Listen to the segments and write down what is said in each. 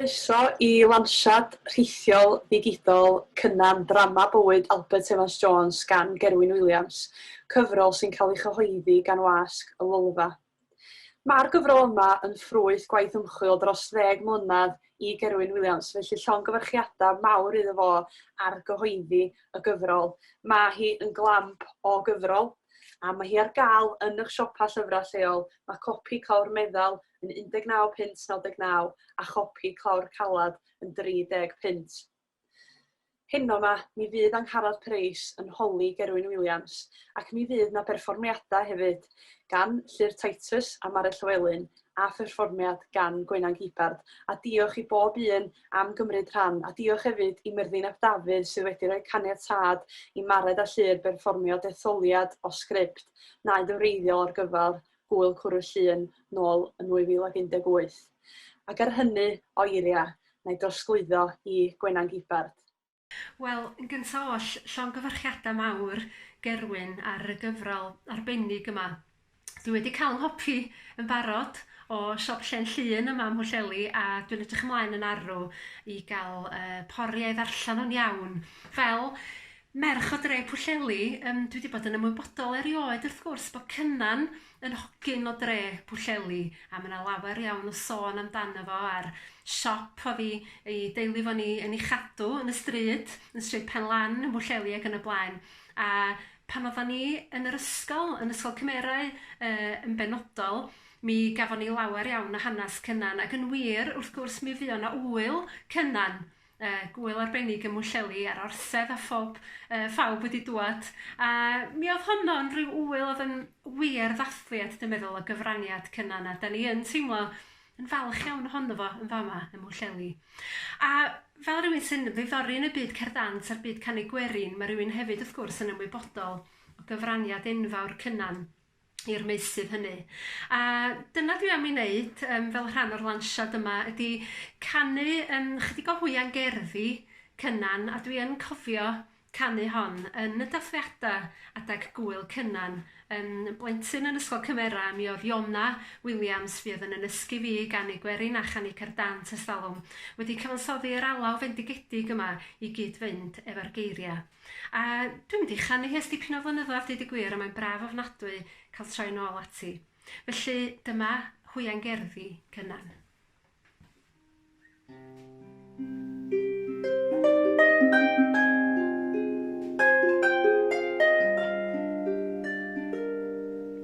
Croeso i lansiad rhithiol ddigidol Cynan, Drama Bywyd Albert Evans Jones gan Gerwyn Williams, cyfrol sy'n cael ei chyhoeddi gan Wasg y Lolfa. Mae'r gyfrol yma yn ffrwyth gwaith ymchwil dros ddeg mlynedd i Gerwyn Williams, felly llongyfarchiadau mawr iddo fo ar gyhoeddi y gyfrol. Mae hi yn glamp o gyfrol, A mae hi ar gael yn eich siopa llyfrau lleol. Mae copi clawr meddal yn 19 punt 99 a chopi clawr calad yn 30 punt. Heno ma, mi fydd Angharad Preis yn holi Gerwyn Williams ac mi fydd na berfformiadau hefyd gan Llyr Titus a Mari Llywelyn a pherfformiad gan Gwenan Gibbard, a diolch i bob un am gymryd rhan, a diolch hefyd i Myrddin ap Dafydd sydd wedi rhoi caniatâd i Mared a Llŷr berfformio detholiad o sgript naid yn wreiddiol ar gyfer Gŵyl Cwrw Llŷn nôl yn 2018. Ac ar hynny o eiriau, na i drosglwyddo i Gwenan Gibbard. Wel, yn gynta' oll, llongyfarchiada' mawr, Gerwyn, ar y gyfrol arbennig yma. Dwi wedi ca'l 'nghopi yn barod o siop Llên Llŷn yma ym Mhwllheli, a dwi'n edrych ymlaen yn arw i ga'l yy pori a'i ddarllen o'n iawn. Fel merch o dre Pwllheli, yym dwi 'di bod yn ymwybodol erioed wrth gwrs bo' Cynan yn hogyn o dre Pwllheli a ma' 'na lawer iawn o sôn amdano fo a'r siop o'dd 'i 'i deulu fo'n 'i yn 'i chadw yn y stryd, yn Stryd Penlan yn Bwllheli ac yn y blaen a pan oddan ni yn yr ysgol, yn Ysgol Cymerau yy yn benodol, mi gafon ni lawer iawn o hanas Cynan ac yn wir wrth gwrs mi fuo' 'na ŵyl Cynan Yy gŵyl arbennig ym Mhwllheli a'r Orsedd a phob yy phawb wedi dŵad a mi o'dd honno'n ryw ŵyl o'dd yn wir ddathliad dwi'n meddwl o gyfraniad Cynan a 'dan ni yn teimlo yn falch iawn ohono fo yn fama ym Mhwllheli. A fel rywun sy'n ddiddori yn y byd cerdd dant a'r byd canu gwerin ma' rywun hefyd wrth gwrs yn ymwybodol o gyfraniad enfawr Cynan i'r meysydd hynny. A dyna dwi am ei wneud um, fel rhan o'r lansiad yma, ydy canu um, chydig o hwya'n gerddi Cynan, a dwi yn cofio canu hon yn y dathliadau adeg gwyl Cynan. Um, blentyn yn Ysgol Cymera, mi oedd Iona Williams, fi oedd yn ynysgu fi i ganu gwerin a chanu cerdant ystalwm, wedi cyfansoddi yr alaw fendigedig yma i gyd-fynd efo'r geiriau. A dwi'n mynd i chanu hi ers dipyn o flynyddoedd deud y gwir a mae'n braf ofnadwy cael troi nôl ati. Felly dyma hwyain gerddi Cynan.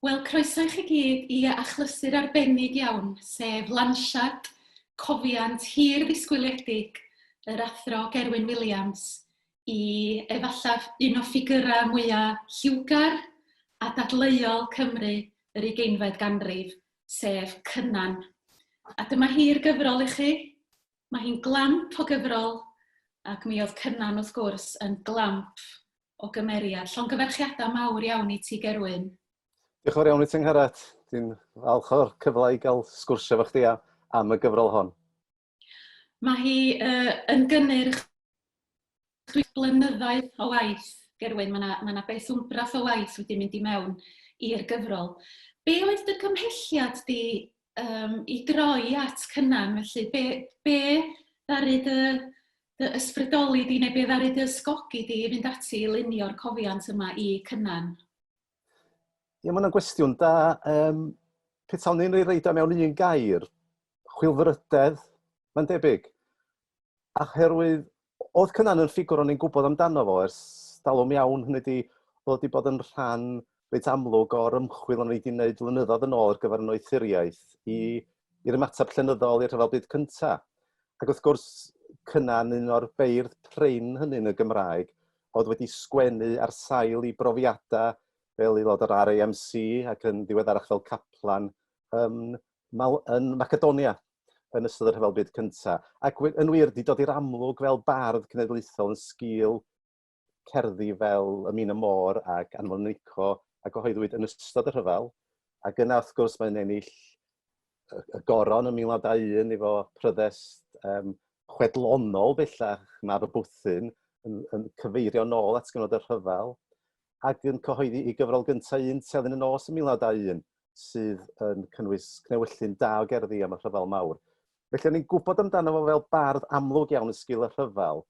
Wel, croeso i chi gyd i achlysur arbennig iawn, sef lansiad cofiant hir ddisgwyliedig yr Athro Gerwyn Williams i efallaf un o ffigyrau mwyaf lliwgar a dadleuol Cymru yr ugeinfed ganrif, sef Cynan. A dyma hi'r gyfrol i chi. Mae hi'n glamp o gyfrol ac mi oedd Cynan, wrth gwrs, yn glamp o gymeriad. Llongyfarchiadau mawr iawn i ti Gerwyn. Diolch yn fawr iawn i ti Angharad. Dwi'n falch o'r cyfle i gael sgwrsio efo chdi am y gyfrol hon. Mae hi uh, yn gynnyrch dwi blynyddau o waith, Gerwyn, mae yna ma na beth wmbrath o waith wedi mynd i mewn i'r gyfrol. Be oedd dy cymhelliad di yym, i droi at Cynan, felly be be ddaru dy dy ysbrydoli di neu be ddaru dy ysgogi di i fynd ati i lunio'r cofiant yma i Cynan? Ie, mae hwnna'n gwestiwn da. Um, petawn ni'n ei reid mewn un gair, chwilfrydedd, mae'n debyg. Oherwydd oedd Cynan yn ffigwr o'n i'n gwybod amdano fo ers talwm iawn, hynny ydi oedd wedi bod yn rhan reit amlwg o'r ymchwil o'n i wedi wneud flynyddoedd yn ôl ar gyfer yn oethuriaeth i, i'r ymateb llenyddol i'r rhyfel byd cynta. Ac wrth gwrs, Cynan, un o'r beirdd prin hynny yn y Gymraeg, oedd wedi sgwennu ar sail i brofiadau fel aelod o'r RAMC ac yn ddiweddarach fel caplan ym Mal yn Macedonia yn ystod y Rhyfel Byd Cyntaf. Ac yn wir, di dod i'r amlwg fel bardd cenedlaethol yn sgil cerddi fel Y Min y Môr ac Anfon Nico a gyhoeddwyd yn ystod y rhyfel. Ac yna, wrth gwrs, mae'n ennill y goron yn 1921 efo pryddest um, chwedlonol bellach, Mab y Bwthyn, yn, yn cyfeirio nôl at gyfnod y rhyfel. ac yn cyhoeddi ei gyfrol gyntaf un telyn y nos yn 1921, sydd yn cynnwys cnewyllyn da o gerddi am y Rhyfel Mawr. Felly o'n i'n gwybod amdano fo fel bardd amlwg iawn yn sgil y rhyfel,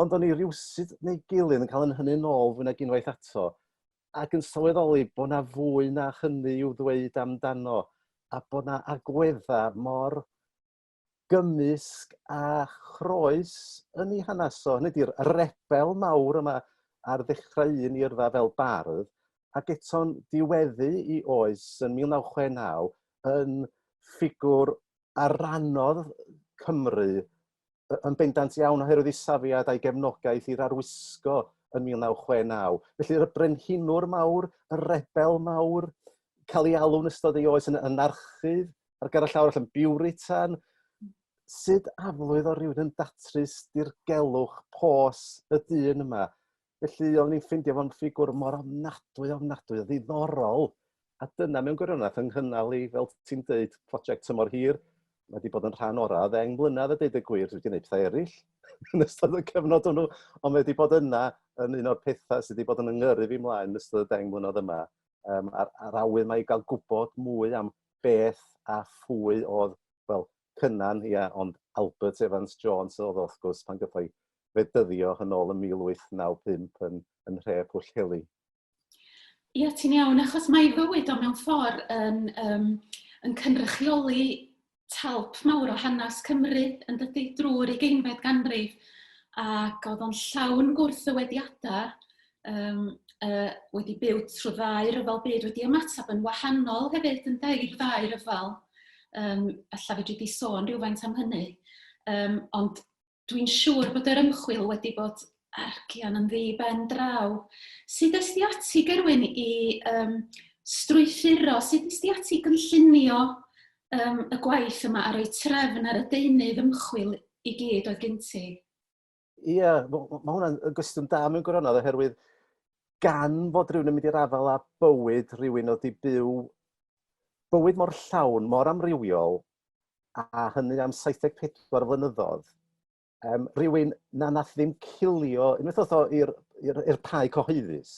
ond o'n i rywsut neu gilydd yn cael yn hynny yn ôl fwy nag unwaith ato, ac yn sylweddoli bod na fwy na hynny i'w ddweud amdano, a bod na agwedda mor gymysg a chroes yn ei hanes o, hynny ydy'r rebel mawr yma ar ddechrau un i yrfa fel bardd, ac eto'n diweddu i oes yn 1969 yn ffigwr a rannodd Cymru yn bendant iawn oherwydd ei safiad a'i gefnogaeth i'r arwisgo yn 1969. Felly y brenhinwr mawr, y rebel mawr, cael ei alw'n ystod ei oes yn anarchydd, ar gyfer y llawr allan, biwritan, sut aflwydd o rywun yn datrys dirgelwch pos y dyn yma? Felly o'n i'n ffeindio fo'n ffigwr mor ofnadwy, ofnadwy o ddiddorol, a dyna mewn gwirionedd yng nghynnal i, fel ti'n deud, prosiect tymor hir, mae wedi bod yn rhan orau ddeng mlynedd a deud y gwir, dwi wedi gwneud pethau eraill yn ystod y cyfnod hwnnw, ond mae wedi bod yna yn un o'r pethau sydd wedi bod yn yngyrru fi mlaen yn ystod y deng mlynedd yma, um, a'r, ar awydd mae i gael gwybod mwy am beth a phwy oedd, wel, Cynan, ia, ond Albert Evans Jones oedd o, wrth gwrs, pan gyffai fe dyddio yn ôl yn 1895 yn, yn nhre Pwllheli. Ia, ti'n iawn, achos mae ei fywyd o mewn ffordd yn, um, yn cynrychioli talp mawr o hanes Cymru yn dydy drwy'r ugeinfed ganrif ac oedd o'n llawn gwrthywediadau um, uh, wedi byw trwy ddau ryfel byd, wedi ymateb yn wahanol hefyd yn i'r ddau ryfel. Um, alla fedri di sôn rhywfaint am hynny. Um, ond dwi'n siŵr bod yr ymchwil wedi bod argian yn ddi ben draw. Sut ysdi ati, Gerwyn, i um, strwythuro, sut ysdi ati gynllunio um, y gwaith yma a roi trefn ar y deunydd ymchwil i gyd oedd gen ti? Ie, mae hwnna'n gwestiwn da mewn gwirionedd oherwydd gan fod rhywun yn mynd i'r afael â bywyd rhywun oedd wedi byw bywyd mor llawn, mor amrywiol, a hynny am 74 flynyddoedd, um, rhywun na nath ddim cilio, unwaith oedd o i'r pau cyhoeddus,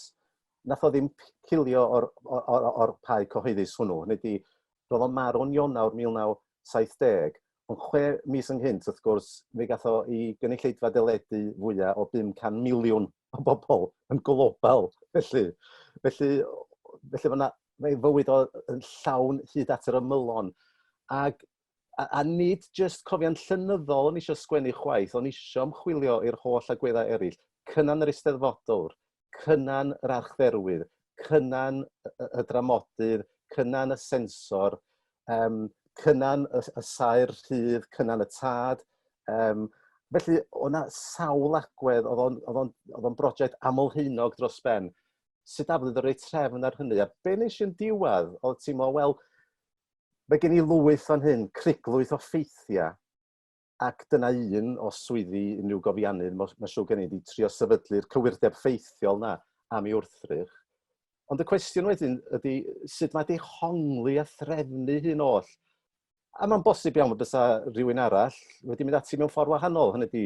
nath o ddim cilio o'r, or, or, or pau cyhoeddus hwnnw. Hynny di, roedd o'n marw'n Ionawr 1970, Ond chwe mis ynghynt, wrth gwrs, fe gath o i gynulleidfa deledu fwya o 500 miliwn o bobl yn global, felly. Felly, felly mae 'na... mae ei fywyd o yn llawn hyd at yr ymylon. Ac a a nid jyst cofion llenyddol o'n i isio sgwennu chwaith, o'n i isio ymchwilio i'r holl agweddau eraill, Cynan yr Eisteddfodwr, Cynan yr archferwydd, cynan y dramodydd, cynan y sensor, um, cynan y, y saer rhydd, cynan y tad. Um, felly, o'na sawl agwedd, oedd o'n brosiect amlheunog dros ben. Sut aflwyd o rei trefn ar hynny? A be nes i'n diwedd, oedd ti'n meddwl, wel, mae gen i lwyth o'n hyn, criglwyth o ffeithiau, Ac dyna un, os swyddi unrhyw gofiannydd, mae'n siw gen i, di trio sefydlu'r cywirdeb ffeithiol na am ei wrthrych. Ond y cwestiwn wedyn ydy sut mae dehongli a threfnu hyn oll. A mae'n bosib iawn bod bysa rhywun arall wedi mynd ati mewn ffordd wahanol, hynny ydy,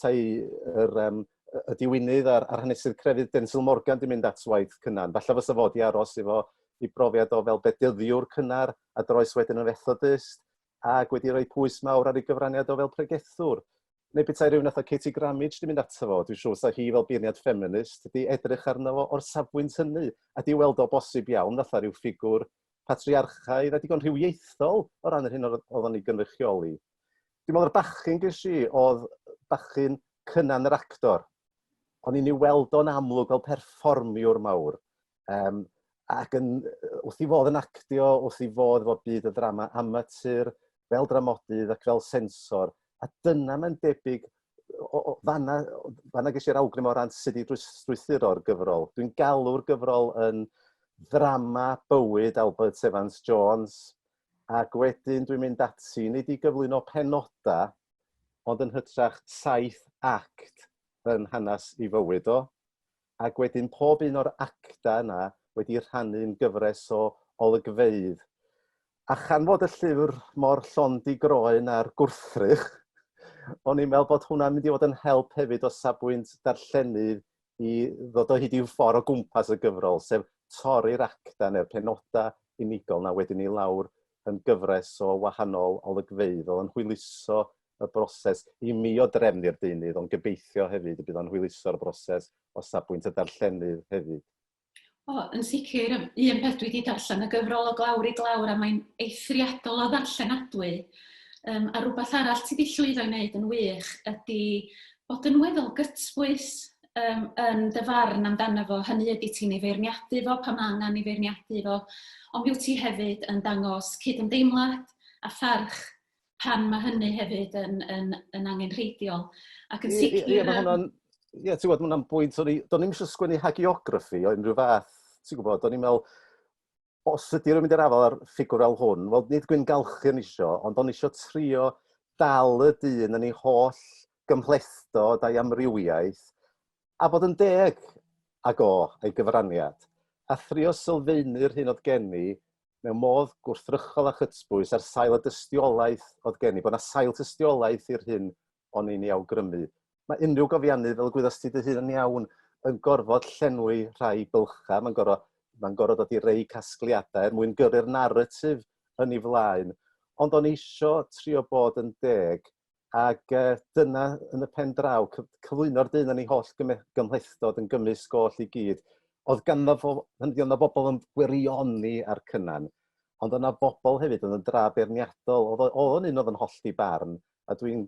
tai yr, um, y diwynydd a'r, ar hanesydd crefydd Densil Morgan di mynd at waith cynnar. Falle fysa fod i aros i fo i brofiad o fel bedyddiwr cynnar a droes wedyn yn fethodist. ac wedi rhoi pwys mawr ar ei gyfraniad o fel pregethwr. Neu petai rhywun fatha Katie Grammage wedi mynd ato fo, dwi'n siŵr sa hi fel beirniad ffeminist wedi edrych arno fo o'r safbwynt hynny, a 'di weld o bosib iawn fatha rhyw ffigwr patriarchaidd a digon rhywiaethol o ran yr hyn oedd o'n ei gynrychioli. Dwi'n meddwl yr bachyn ges i oedd bachyn Cynan yr actor. O'n i'n ei weld o'n amlwg fel perfformiwr mawr, Um, ac yn, wrth i fodd yn actio, wrth i fodd fod byd y ddrama amatur, fel dramodydd ac fel sensor, a dyna mae'n debyg o, o, fanna, fanna ges i'r awgrym o ran sut i drwythuro'r gyfrol. Dwi'n galw'r gyfrol yn ddrama bywyd Albert Evans Jones, ac wedyn dwi'n mynd ati, nid i gyflwyno penoda, ond yn hytrach saith act yn hanes i fywyd o. Ac wedyn pob un o'r actau yna wedi rhannu'n gyfres o olygfeydd. A chan fod y llyfr mor llond i groen a'r gwrthrych, o'n i'n meddwl bod hwnna'n mynd i fod yn help hefyd o safbwynt darllenydd i ddod o hyd i'w ffordd o gwmpas y gyfrol, sef torri'r actau neu'r penodau unigol 'na wedyn i lawr yn gyfres o wahanol olygfeydd. Oedd o'n hwyluso y broses i mi o drefnu'r deunydd, ond gobeithio hefyd y bydd o'n hwyluso'r broses o safbwynt y darllenydd hefyd. O, yn sicr, un peth dwi wedi darllen y gyfrol o glawr i glawr a mae'n eithriadol o ddarllenadwy. Um, a rhywbeth arall ti wedi llwyddo i wneud yn wych ydy bod yn weddol gytbwys um, yn dy farn amdano fo. Hynny ydy ti'n ei feirniadu fo pan mae angen ei feirniadu fo, ond byw ti hefyd yn dangos cydymdeimlad a pharch pan mae hynny hefyd yn, yn, yn angenrheidiol. Ac yn sicr... Ie, mae hwnna'n... Ie, ti'n gwybod, mae hwnna'n bwynt, o'n i, do'n i'n eisiau sgwennu hagiography o unrhyw fath, ti'n gwybod, do'n i'n meddwl, os ydy rhywun mynd i'r afal ar ffigwr fel hwn, wel, nid gwyn galchu yn eisiau, ond o'n eisiau trio dal y dyn yn ei holl gymhlethdod a'i amrywiaeth, a bod yn deg ag o, ei gyfraniad, a thrio sylfaenu'r hyn oedd gen i, mewn modd gwrthrychol a chytbwys ar sail y dystiolaeth oedd gen i, bod 'na sail tystiolaeth i'r hyn o'n i'n ei awgrymu. Mae unrhyw gofiannydd, fel y gwyddost ti dy hun yn iawn, yn gorfod llenwi rhai bylchau, mae'n gorfod, mae'n gorfod dod i rei casgliadau er mwyn gyrru'r naratif yn ei flaen. Ond o'n i eisiau trio bod yn deg Ac yy dyna yn y pen draw cy- cyflwyno'r dyn yn ei holl gyme- gymhlethdod yn gymysg oll i gyd. Oedd ganddo fo, hynny ydi, oedd 'na bobl yn gwirioni a'r Cynan, ond oedd 'na bobl hefyd oedd yn dra beirniadol. Oedd o- oedd o'n un oedd yn hollti barn, a dwi'n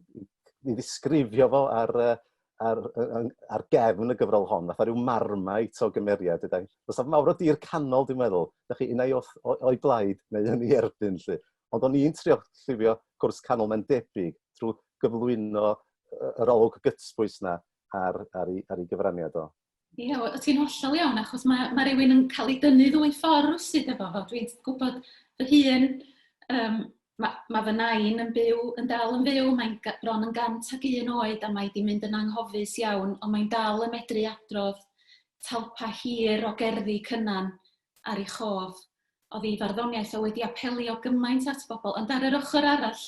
i ddisgrifio fo ar yy ar yy yn ar gefn y gyfrol hon fatha ryw marmite o gymeriad ydyn. Fysa mawr o dir canol dwi'n meddwl, 'dach chi un ai wrth o- o'i blaid neu yn ei erbyn 'lly. Ond o'n i'n trio llifio cwrs canol mae'n debyg trwy gyflwyno yr olwg gytbwys yna ar, ar, ei, ar ei gyfraniad o. Ie, yeah, o ti'n hollol iawn, achos mae, mae rhywun yn cael ei dynnu ddwy ffordd sydd efo fo. Dwi'n gwybod fy hun, um, mae, mae fy nain yn byw, yn dal yn fyw, mae'n bron yn gant ac un oed a mae wedi mynd yn anghofus iawn, ond mae'n dal yn medru adrodd talpa hir o gerddi cynnan ar ei chof oddi farddoniaeth oedd wedi apelio gymaint at bobl ond ar yr ochr arall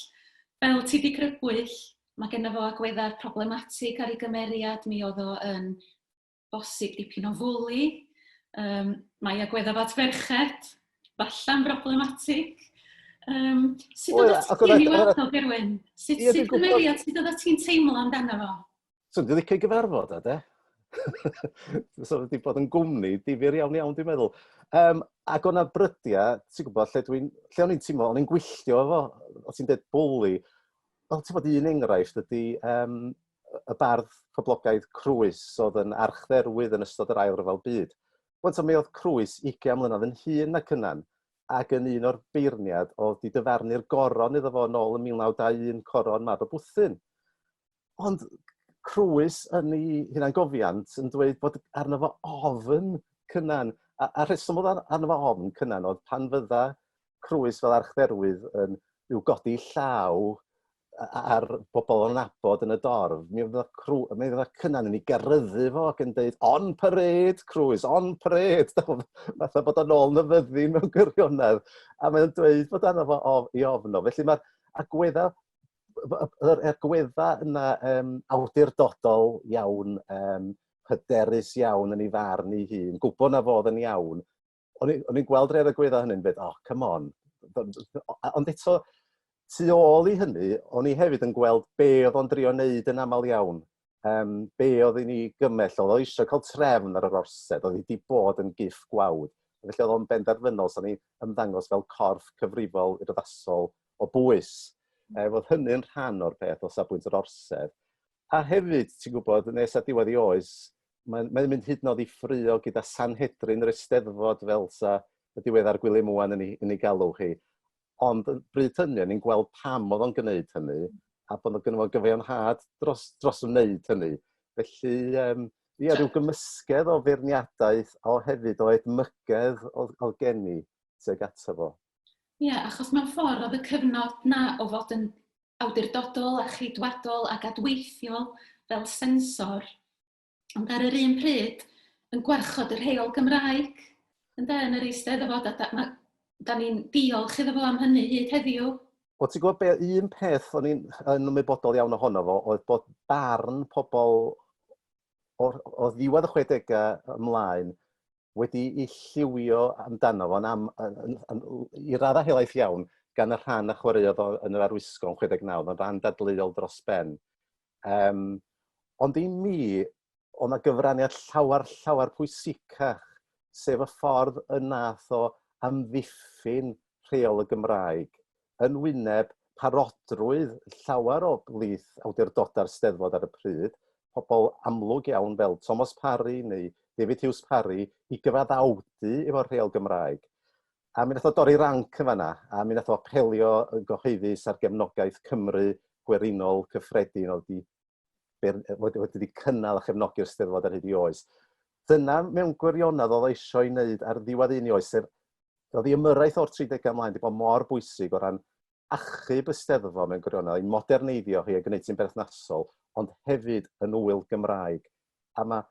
fel ti di crybwyll mae genno fo agweddau problematig ar ei gymeriad mi oedd o yn bosib dipyn o fwli um, mae agweddau fat ferched falla'n broblematig um, sut oedd ti'n ei weld o Gerwyn? Sut ti'n cymeriad? Sut oedd ti'n teimlo amdano fo? So dwi'n licio gyfarfod o de. so wedi bod yn gwmni difyr iawn iawn dwi'n meddwl. Um, ac o'na brydiau, ti'n gwybod, lle, dwi'n, lle o'n i'n teimlo, o'n i'n gwylltio efo, o ti'n dweud bwli, wel, ti'n bod un enghraifft ydy um, y bardd poblogaidd Crwys oedd yn archdderwydd yn ystod yr ail ryfel byd. Wel, mi oedd Crwys 20 mlynedd yn hun na cynnan, ac yn un o'r beirniad oedd di dyfarnu'r goron iddo fo yn ôl yn 1921 coron mab y bwthyn. Ond Crwys yn 'i hunangofiant yn dweud bod arno fo ofn Cynan a a'r rheswm odd ar- arno fo ofn Cynan odd pan fydda Crwys fel archdderwydd yn i'w godi llaw a- a- ar bobol o'n nabod yn y dorf mi fydda Crw- yy mi fydda Cynan yn 'i garyddu fo ac yn deud on parade Crwys on parade dych ch'mod fatha bod o nôl yn y fyddin mewn gwirionedd a mae o'n dweud bod arno fo of- 'i ofn o felly ma'r agwedda yr egwedda yna yym awdurdodol iawn yym hyderus iawn yn ei farn ei hun, gwybod na fodd yn iawn. O'n i'n gweld rhai o'r egwedda hynny'n dweud, oh, come on. Ond eto, tu ôl i hynny, o'n i hefyd yn gweld be oedd o'n drio wneud yn aml iawn. um, be oedd i ni gymell, oedd o eisiau cael trefn ar yr orsedd, oedd wedi bod yn giff gwawd. Felly oedd o'n benderfynol, so ni ymddangos fel corff cyfrifol urddasol o bwys. E, oedd hynny'n rhan o'r peth o safbwynt yr orsedd. A hefyd, ti'n gwybod, nes a diwedd i oes, mae'n mae mynd hyd yn oed i ffrio gyda Sanhedrin yr Eisteddfod fel sa y diweddar Gwilym Mwan yn ei, yn ei galw chi. Ond yn bryd hynny o'n i'n gweld pam o'dd o'n gneud hynny a bod o gynno fo gyfiawnhad dros dros wneud hynny. Felly yym ia ryw gymysgedd o feirniadaeth o hefyd o edmygedd o'dd o'dd gen i tuag ato fo. Ia achos mewn ffordd o'dd y cyfnod 'na o fod yn awdurdodol a cheidwadol ac adweithiol fel sensor Ond ar yr un pryd, yn gwarchod yr heol Gymraeg, ynde, yn yr Eisteddfod, a da, ma, da ni'n diolch iddo fo am hynny hyd heddiw. Wel, ti'n gwybod be, un peth o'n i'n yn ymwybodol iawn ohono fo oedd bod barn pobl o, o ddiwedd y 60au ymlaen wedi i lliwio amdano fo'n am, i raddau helaeth iawn gan y rhan a chwaraeodd o yn yr arwisgo yn 69, mae'n rhan dadleuol dros ben. Yym, ond i mi, oedd 'na gyfraniad llawer, llawer pwysicach, sef y ffordd y nath o amddiffyn rheol y Gymraeg yn wyneb parodrwydd llawer o blith awdurdodau'r Steddfod ar y pryd, pobl amlwg iawn fel Tomos Parry neu David Hughes Parry, i gyfaddawdu efo'r rheol Gymraeg. A mi nath o dorri ranc yn fanna, a mi nath o apelio yn gyhoeddus ar gefnogaeth Cymru gwerinol cyffredin oedd wedi ber- yy wedi wedi cynnal a chefnogi'r Steddfod ar hyd ei oes. Dyna mewn gwirionedd oedd o eisiau ei wneud ar ddiwedd un ei oes, sef oedd ei ymyrraeth o'r 30au ymlaen wedi bod mor bwysig o ran achub y Steddfod mewn gwirionedd, ei moderneiddio hi a gwneud hi'n berthnasol, ond hefyd yn ŵyl Gymraeg. A mae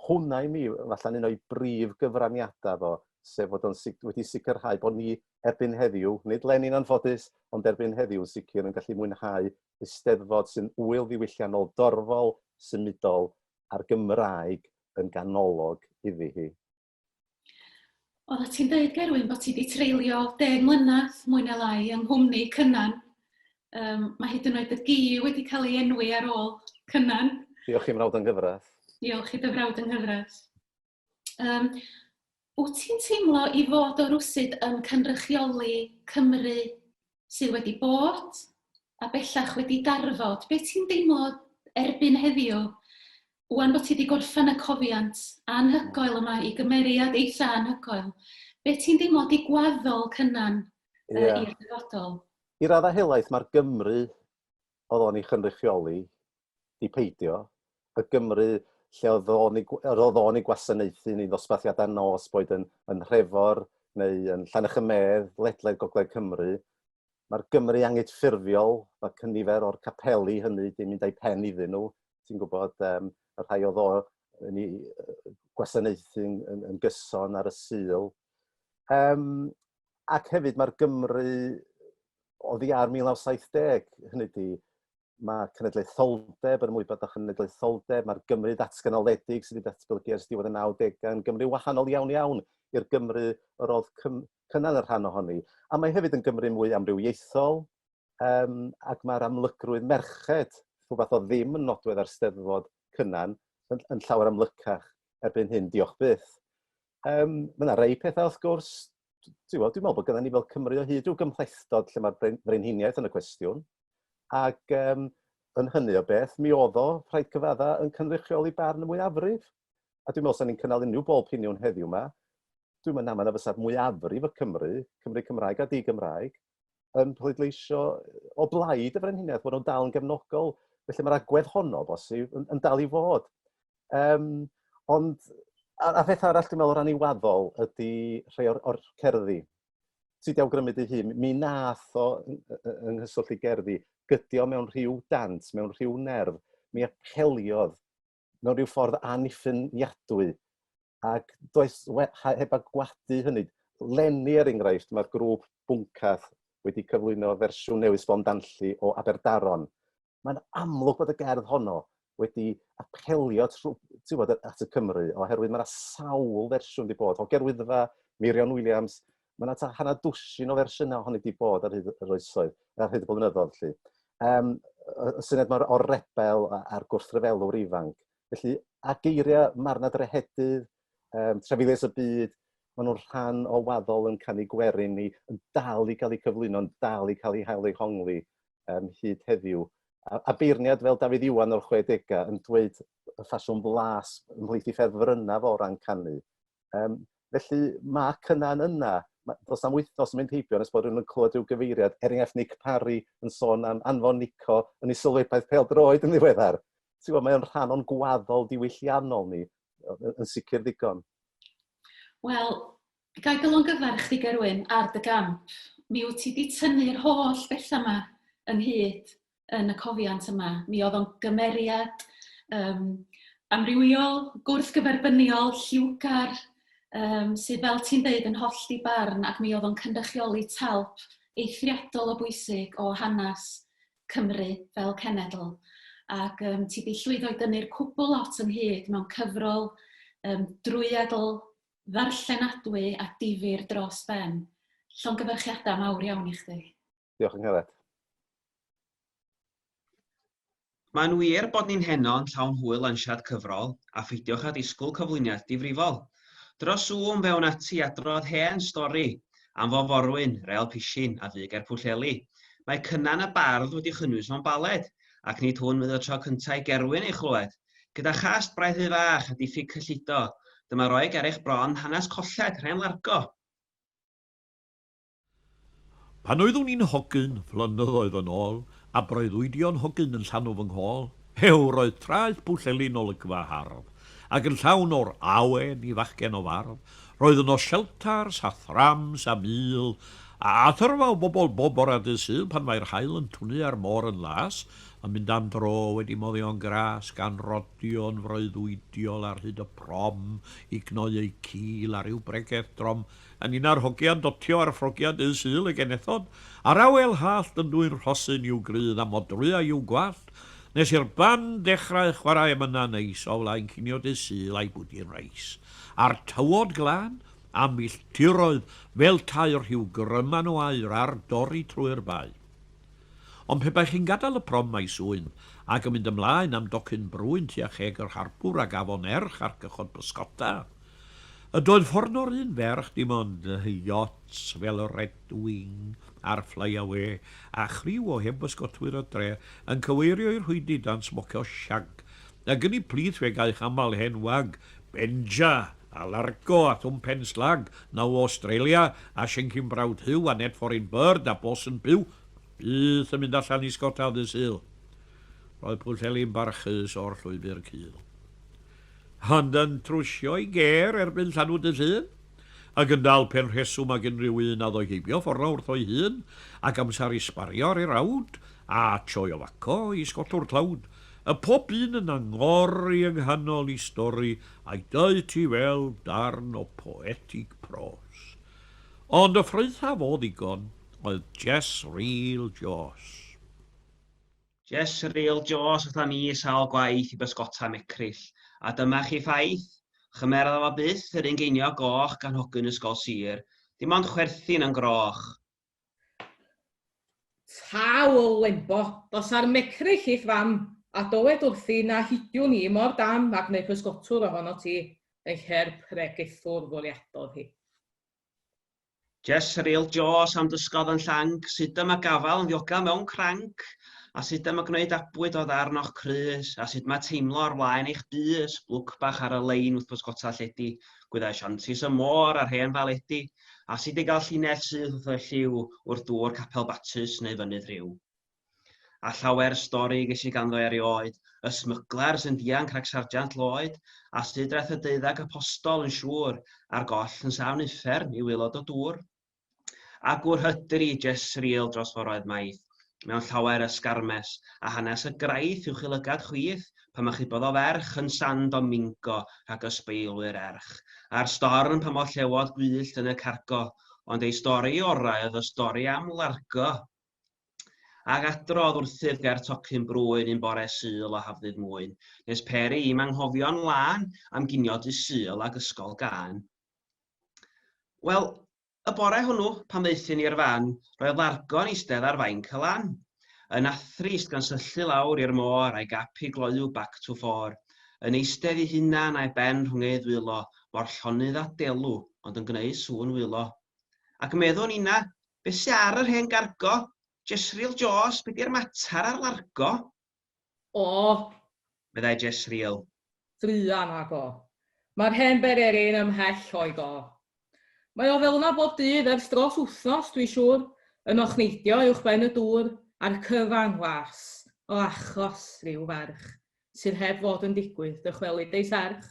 hwnna i mi, falle'n un o'i brif gyfraniadau fo, sef fod o'n wedi sicrhau bod ni erbyn heddiw, nid Lenin anffodus, ond erbyn heddiw yn sicr yn gallu mwynhau Eisteddfod sy'n ŵyl ddiwylliannol dorfol, symudol, a'r Gymraeg yn ganolog iddi hi. Oeddet ti'n dweud, Gerwyn, bod ti wedi treulio deg mlynedd, mwy neu lai, yng nghwmni Cynan. Um, mae hyd yn oed y gi wedi cael ei enwi ar ôl Cynan. Diolch i frawd yng Nghyfraith. Diolch i dy frawd yng Nghyfraith. Um, wyt ti'n teimlo i fod o rwsyd yn cynrychioli Cymru sydd wedi bod a bellach wedi darfod, be ti'n deimlo erbyn heddiw, wan bod ti wedi gorffen y cofiant anhygoel yma i gymeriad eitha anhygoel, be ti'n deimlo di gwaddol cynnan uh, yeah. i'r dyfodol? I raddau helaeth mae'r Gymru oedd o'n ei chynrychioli 'di peidio, y Gymru lle oedd o'n ei... yr oedd o'n ei gwasanaethu yn ei ddosbarthiadau nos, boed yn, yn Nhrefor neu yn Llanechamedd, ledled gogledd Cymru. Mae'r Gymru angydffurfiol, mae cynifer o'r capeli hynny 'di mynd â'i pen iddyn nhw, ti'n gwybod, um, y rhai oedd o yn ei gwasanaethu yn, yn, yn gyson ar y syl. Um, ac hefyd mae'r Gymru oddi ar 1970, hynny di, mae cenedlaetholdeb, yr ymwybod â chenedlaetholdeb, mae'r Gymru ddatganoledig sydd wedi datblygu ers diwedd y 90au yn Gymru wahanol iawn iawn i'r Gymru yr oedd cynnar y rhan ohoni. A mae hefyd yn Gymru mwy amrywiaethol, um, ac mae'r amlygrwydd merched, rhywbeth o ddim yn nodwedd ar steddfod cynnan, yn, yn llawer amlycach erbyn hyn, diolch byth. Um, mae yna rei pethau wrth gwrs, dwi'n meddwl bod gyda ni fel Cymru o hyd rhyw gymhlethdod lle mae'r brenhiniaeth yn y cwestiwn, ac um, yn hynny o beth, mi oedd o, rhaid cyfadda, yn cynrychioli barn y mwyafrif. A dwi'n meddwl, sa'n ni'n cynnal unrhyw bol piniwn heddiw yma, dwi'n meddwl na, mae yna fysa'r mwyafrif y Cymru, Cymru Cymraeg a di-Gymraeg, yn pleidleisio o blaid y frenhiniaeth, bod nhw'n dal yn gefnogol. Felly mae'r agwedd honno, bosib, yn, yn dal i fod. Um, ond, a, a pheth arall dwi'n meddwl o ran iwaddol ydy rhai o'r, or cerddi. Ti di awgrymu dy hun, mi nath o yng nghyswllt i gerddi, gydio mewn rhyw dant, mewn rhyw nerf, mi apeliodd mewn rhyw ffordd anniffiniadwy. Ac does, we, heb agwadu hynny, lenni er enghraifft, mae'r grŵp Bwncath wedi cyflwyno fersiwn newydd sbon danlli o Aberdaron. Mae'n amlwg bod y gerdd honno wedi apelio bod, at y Cymru, oherwydd mae yna sawl fersiwn wedi bod, o Gerwyddfa, Meirion Williams, Mae yna ta hanner dwsin o fersiynau ohoni wedi bod ar hyd yr oesoedd, ar hyd y blynyddoedd, lly. Um, y syniad mae'r o'r rebel a'r gwrthryfelwr ifanc. Felly, a geiriau marna drehedydd, um, trefilius y byd, maen nhw'n rhan o waddol yn canu gwerin ni, yn dal i gael eu cyflwyno, yn dal i cael eu hael eu hongli um, hyd heddiw. A, a beirniad fel Dafydd Iwan o'r 60au yn dweud y ffasiwn blas ymhlith i ffefrynnaf o ran canu. Um, Felly mae cynna'n yna. Ma- Does na'm wythnos yn mynd heibio nes bod rhywun yn clywed rhyw gyfeiriad, er enghraifft Nick Parry yn sôn am anfon Nico yn ei sylwebaeth pêl-droed yn ddiweddar. Ti'n gwybod, mae o'n rhan o'n gwaddol diwylliannol ni, yy, yn sicr ddigon. Wel, ga i dy longyfarch di Gerwyn ar dy gamp. Mi wyt ti 'di tynnu'r holl bethau 'ma ynghyd yn y cofiant yma. Mi oedd o'n gymeriad um, amrywiol, gwrthgyferbyniol, lliwgar, um, sydd fel ti'n dweud yn holl di barn ac mi oedd o'n cynrychioli talp eithriadol o bwysig o hanes Cymru fel cenedl. Ac um, ti wedi llwyddo i dynnu'r cwbl lot ynghyd mewn cyfrol um, drwyadl, ddarllenadwy a difyr dros ben. Llongyfarchiadau mawr iawn i chdi. Diolch yn Gareth. Mae'n wir bod ni'n heno yn llawn hwyl lansiad cyfrol, a pheidiwch â disgwyl cyflwyniad difrifol. Dros Zoom fe wn ati i adrodd hen stori am fo forwyn, rêl pisin, a fu ger Pwllheli. Mae Cynan y Bardd wedi chynnwys mewn baled, ac nid hwn fydd y tro cyntaf i Gerwyn ei chlywed. Gyda chast braidd rhy fach a diffyg cyllido, dyma roi ger eich bron hanes colled, rhen largo. Pan oeddwn i'n hogyn, flynyddoedd yn ôl, a breuddwydion hogyn yn llanw fy nghôl, hew, roedd traeth Pwllheli'n olygfa hardd, ac yn llawn o'r awen i fachgen o fardd. Roedd yno shelters a thrams a mil a athrfa o bobl bob bore dydd Sul pan mae'r haul yn twnu a'r môr yn las, yn mynd am dro wedi moddion gras, gan rodio'n freuddwydiol ar hyd y prom i gnoi eu cil ar ryw bregeth drom. Yn un â'r hogiau'n dotio ar ffrogiau dydd Sul y genethod, a'r awel hallt yn dwyn rhosyn i'w grudd a modrwyau i'w gwallt, nes i'r band ddechrau chwarae emynau neis o flaen cinio dydd Sul a'i bwdin reis, a'r tywod glân, a milltiroedd fel tai rhiw gryman o aur ar dorri trwy'r bae. Ond pe baech chi'n gadael y prom maes Oen ac yn mynd ymlaen am docyn brwyn tua cheg yr harbwr ag afon Erch ar gychod bysgota, y doedd ffordd o'r un ferch dim ond yachts fel y Redwing a'r Flyawê a chriw o hen bysgotwyr y dre yn cyfeirio i'r rhwydi dan smocio shag, a gyni plith fe gaech aml hen wag, Benja! a Largo a Thwm Pen Slag, Now o Awstralia, a Shenkin Proud Huw a Net Foreign Bird a Boss yn byw, byth yn mynd allan i sgota ddydd Sul. Roedd Pwllheli'n barchus o'r llwybr cul. Ond yn trwsio i ger erbyn llanw dydd Llun, ac yn dal pen rheswm ag unrhyw un a ddoe heibio ffordd wrth o'i hun, ac amser i sbario ar ei rawd, a sioe o faco i sgotwr tlawd, y pob un yn angori yng nghanol i stori Ac doedd ti fel darn o poetig pros. Ond y ffraethaf o ddigon oedd Jess Reel Joss. Jess Reel Joss aethon ni sawl gwaith i bysgota Mecrill, a dyma chi ffaith, chymera fo byth yr un geiniog goch gan hogyn ysgol sir, dim ond chwerthin yn groch. Taw o Lembo. Dos ar mecryll i'th fam, a dowed wrthi na hidiwn i mor dam ag neu physgotwr ohono ti, ei her pregethwr fwriadodd hi. Jesreel Jos am dysgodd yn llanc sut y mae gafael yn ddiogel mewn cranc, a sut y mae gwneud abwyd o ddarn o'ch crys, a sut mae teimlo ar flaen eich bys, blwc bach ar y lein wrth bysgota lledi, gwyddau shanties y môr a'r hen faledi, a sut y gall llinell syth wrtho y lliw wrth dŵr Capel Batws neu Fynydd Rhiw. A llawer stori ges i ganddo erioed, y smyglers yn dianc rhag Sarjant Lloyd, a sut daeth y deuddag apostol yn siŵr, a'r goll yn safn uffern i waelod o dŵr. A gŵr hydri, jes surreal dros foroedd maith, mewn llawer ysgarmes, a hanes y graith uwch i lygad chwith, pan achubodd o ferch yn San Domingo rhag ysbeilwyr erch, a'r storm pan ollewod gwyllt yn y cargo, ond ei stori orau oedd y stori am Largo, ag adrodd wrthyf ger tocyn brwyn un bore Sul o Hafddydd Mwyn, nes peri i'm anghofio'n lân am ginio Dydd Sul ag ysgol gân. Wel, Y bore hwnnw, pan ddaethon ni i'r fan, roedd Largo yn eistedd ar fainc y lan. Yn athrist, gan syllu lawr i'r môr a'i gap hi gloyw back to four. Yn eistedd ei hunan a'i ben rhwng ei ddwylo, mor llonydd a delw, ond yn gwneu sŵn wylo. Ac meddwn ninna, Be sy ar yr hen gargo? Jesril Jôs, be di'r matar ar Largo? O! meddai Jesriel. Druan, nag o. Mae'r hen bererin ymhell o'i go. Mae o fel yna bob dydd ers dros wythnos, dwi'n siŵr, yn ochneidio uwchben y dŵr a'r cyfan las, o achos rhyw ferch sydd heb fod yn digwydd dychwelyd ei serch.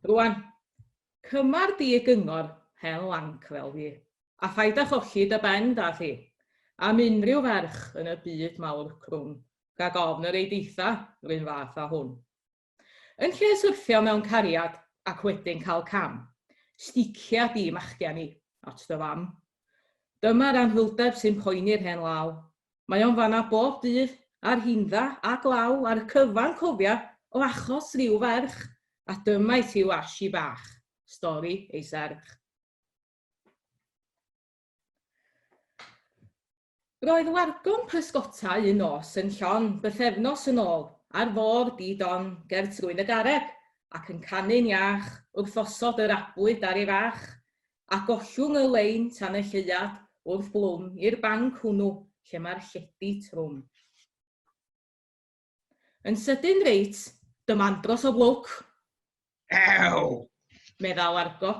Rwan, cymar di y gyngor hen lanc fel fi, a phaid â cholli dy ben, da chi, am unrhyw ferch yn y byd mawr crwn rhag ofn yr eideitha run fath â hwn. Yn lle syrthio mewn cariad ac wedyn cael cam, sticia di machgen i at dy fam. Dyma'r anhwylder sy'n poeni'r hen law, Mae o'n fan'na bob dydd, ar hyn dda a glaw ar y cyfan cofia o achos ryw ferch, a dyma i ti yw Ashi bach, stori ei serch. Roedd wargon pysgota un nos yn llon bythefnos yn ôl ar fôr di don ger trwyn y garreg ac yn canu'n iach wrth osod yr abwyd ar ei fach. a gollwng y lein tan y lleuad wrth Blwm i'r banc hwnnw lle mae'r llety trwm. Yn sydyn reit, dyma andros o lwc! Ew! meddai Largo.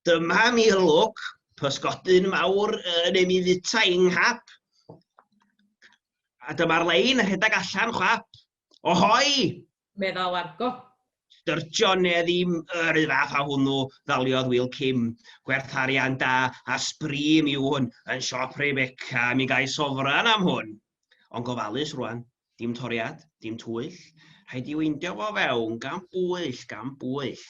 Dyma ni'r lwc, pysgodyn mawr yn ei fita i'n nghap. A dyma'r lein yn rhedeg allan, chwap, Ohoi! meddai Largo. Styrtio ne ddim, yr un fath â hwnnw, ddaliodd Wil Kim. Gwerth arian da a sbri mi yw hwn, yn siop Rebecca, mi gai sofran am hwn. Ond gofalus rwan, dim toriad, dim twyll, rhaid i weindio fo fewn, gan bwyll, gan bwyll.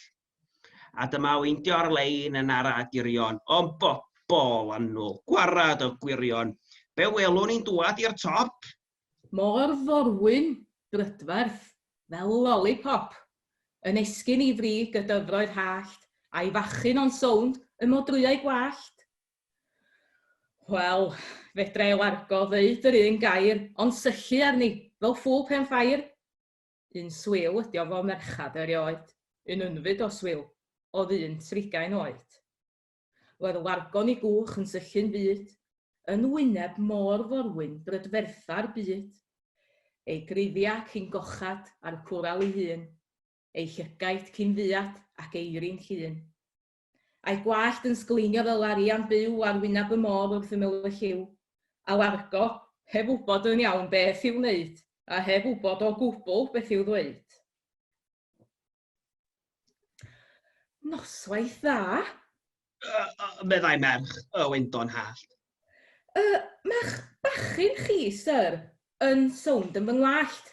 A dyma weindio ar-lein yn ara dirion, ond bobol annwl, gwarad y gwirion, be welwn ni'n dwad i'r top? Mor forwyn, brydferth, fel lolipop, yn esgyn i frig y dyfroedd hallt, a'i fachyn o'n sownd y modrwyau gwallt? Wel, fedra i largo ddeud yr un gair, ond syllu arni, fel ffŵl pen ffair! Un swil ydi o fo merchad erioed, un unfyd o swil, o'dd un trigain oed. Roedd y wargon i gwch yn syllu'n fud, yn wyneb môr forwyn brydfertha'r byd. Ei griddiau cyn gochad a'r cwral ei hun, ei llygaid cyn fuad ac eiri'n llun. A'i gwallt yn sgleinio fel arian byw ar wyneb y môr wrth ymyl y lliw. A wargo, heb wybod yn iawn beth i'w wneud, a heb wybod o gwbl beth i'w ddweud. Noswaith dda! Uh, uh, meddai merch y wendon hallt. Uh, Mae'ch bachyn chi, sir, yn sownd yn fy ngwallt.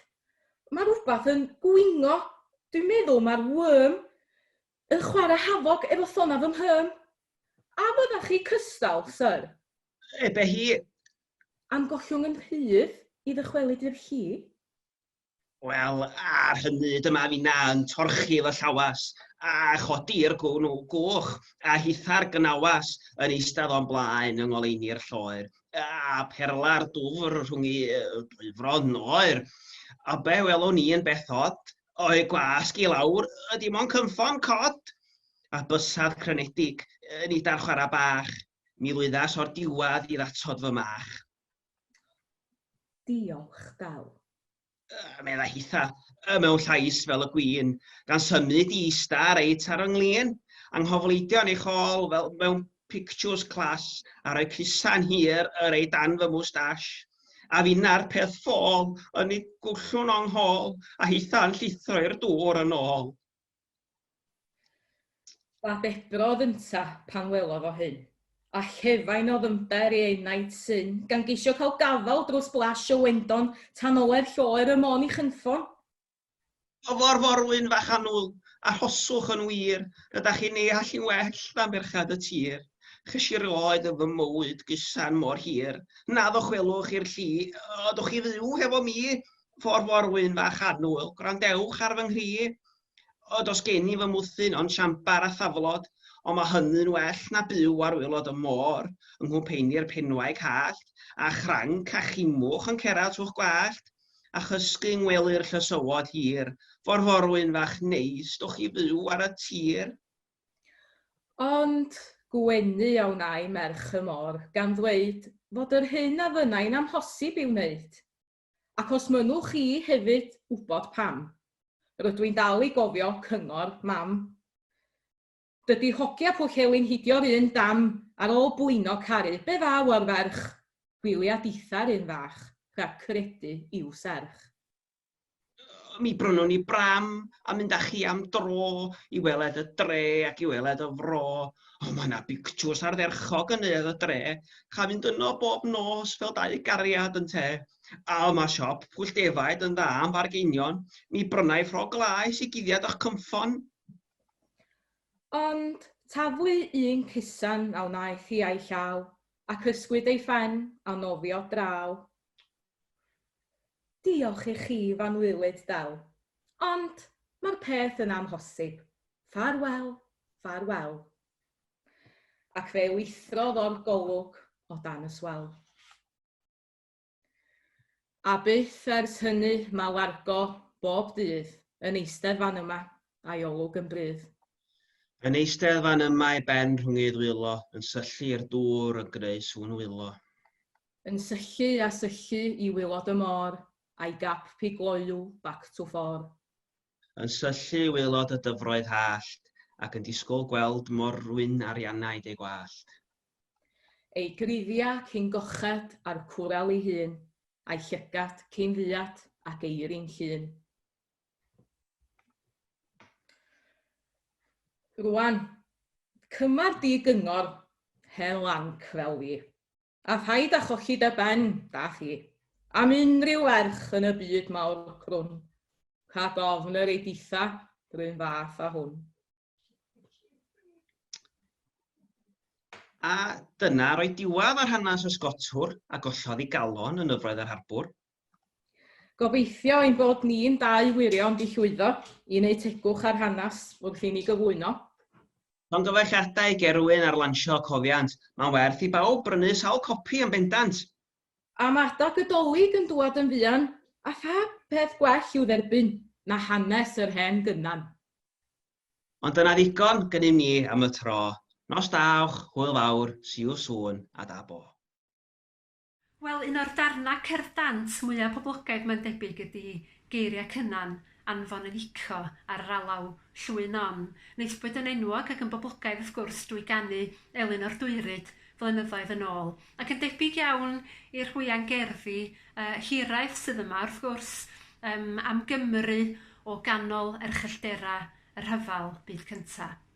Mae rhywbeth yn gwingo. Dwi'n meddwl mae'r worm yn chwarae hafog efo thona fy mhym. A fydda chi cystal, sir? Ebe hi. Am gollwng yn rhydd i ddychwelyd i'r llu? Wel, ar hynny, dyma finna yn torchi fy llawas, a chodi'r gwn goch, a hitha'r gnawas yn eistedd o'n blaen yng ngoleuni'r lloer, a pherla'r dwfr rhwng i dwy fron oer. A be welwn i yn beth od, o'i gwasg i lawr, y dim ond cynffon cod! A bysedd crynedig, nid ar chwarae bach, mi lwyddas o'r diwadd i ddatod fy mach. Diolch, Dal. Yy, meddai Hitha, y mewn llais fel y gwyn, gan symud i ista reit ar ynglyn, anghofleidio yn ei chol fel mewn pictiwrs clas a rhoi crisa'n hir yr ei dan fy mwstash. A finna'r peth ffôl, yn ei gwllwng o'n nghol, a Hitha'n llithro i'r dŵr yn ôl. Dadebrodd ynta pan welodd o hyn, a chefain o ddymder i ei naid syn, gan geisio cael gafal drws blas o wendon tan oledd lloer y mon i chynffon. Dyfo'r forwyn fach annwl, arhoswch yn wir, rydach chi'n ei allu'n well na merched y tir. Chysur oedd yn fy mywyd gyson mor hir, na ddychwelwch i'r lli, ydwch chi fyw hefo mi? ffordd mor wyn fach annwyl. Gwrandewch ar fy nghri, o dos gen i fy mwthyn ond siambar a thaflod, ond mae hynny'n well na byw ar waelod y môr yng nghwmpeini'r penwaig hallt, a chranc a chimwch yn cera trw'ch gwallt, a chysgu yng ngwely'r llysywod hir. Ffordd mor wyn fach neis dowch i fyw ar y tir. Ond gwenu a wnai merch y môr gan ddweud fod yr hyn a fynnai'n amhosib ei wneud. Ac os mynnwch chi hefyd wybod pam, rydw i'n dal i gofio cyngor Mam. Dydy hogia Pwllheli'n hidio'r un dam ar ôl blino caru, be ddaw o'r ferch? Gwylia ditha'r un fach, rhag credu i'w serch. Mi brynwn ni bram a mynd â chi am dro i weled y dre ac i weled y fro. O, mae yna bictws ardderchog yn neuadd y dre. Cha fynd yno bob nos fel dau gariad yn te. A o, mae siop pwll defaid yn dda am bargeinion. Mi brynai ffrog laes i guddiad o'ch cynffon. Ond taflu un cusan a wnaeth hi a'i llaw, ac ysgwyd ei phen a nofio draw. Diolch i chi fan wylyd del. Ond mae'r peth yn amhosib. Ffarwel, ffarwel. Ac fe wythrodd o'r golwg o dan y swell. A byth ers hynny mae Largo bob dydd yn eistedd fan yma, a'i olwg yn brudd. Yn eistedd fan yma ei ben rhwng ei ddwylo, yn syllu i'r dŵr yn greu sŵn wylo. Yn syllu a syllu i waelod y môr, a'i gap pigloyw back to four. Yn syllu i waelod y dyfroedd hallt, ac yn disgwyl gweld morwyn Arianaidd ei gwallt. Ei gruddia cyn gochad a'r cwrel ei hun, a'i llygad cyn fuad ac eirin llun. Rwan, cymar di gyngor hen lanc fel fi. A phaid â cholli dy ben, da chi, am unrhyw ferch yn y byd mawr crwn, rhag ofn yr ei ditha r'un fath â hwn. A dyna roedd diwadd ar hanes y Sgotwr a gollodd ei galon yn Nyfroedd yr Harbwr. Gobeithio ein bod ni'n dau wirion 'di llwyddo i wneud tegwch ar hanes wrth i ni gyflwyno. Llongyfarchiadau ger rywun ar lansio Cofiant, mae'n werth i bawb brynu sawl copi yn bendant! A mae adeg y Dolig yn dŵad yn fuan, a pha peth gwell i'w dderbyn na hanes yr hen gynan. Ond dyna ddigon gynnum ni am y tro, nos da awch, hwyl fawr, see you soon, a da bo. Wel, un o'r darnau cerdd dant mwya' poblogaidd mae'n debyg ydi geiriau Cynan, anfon yn ico ar yr alaw, llwy non, neillbwyd yn enwog ac yn boblogaidd wrth gwrs drwy ganu Elin o'r Dwyryd flynyddoedd yn ôl. Ac yn debyg iawn i'r hwya'n gerddi yy hiraeth sydd yma wrth gwrs yym am Gymru o ganol erchylltera y rhyfel byd cynta'.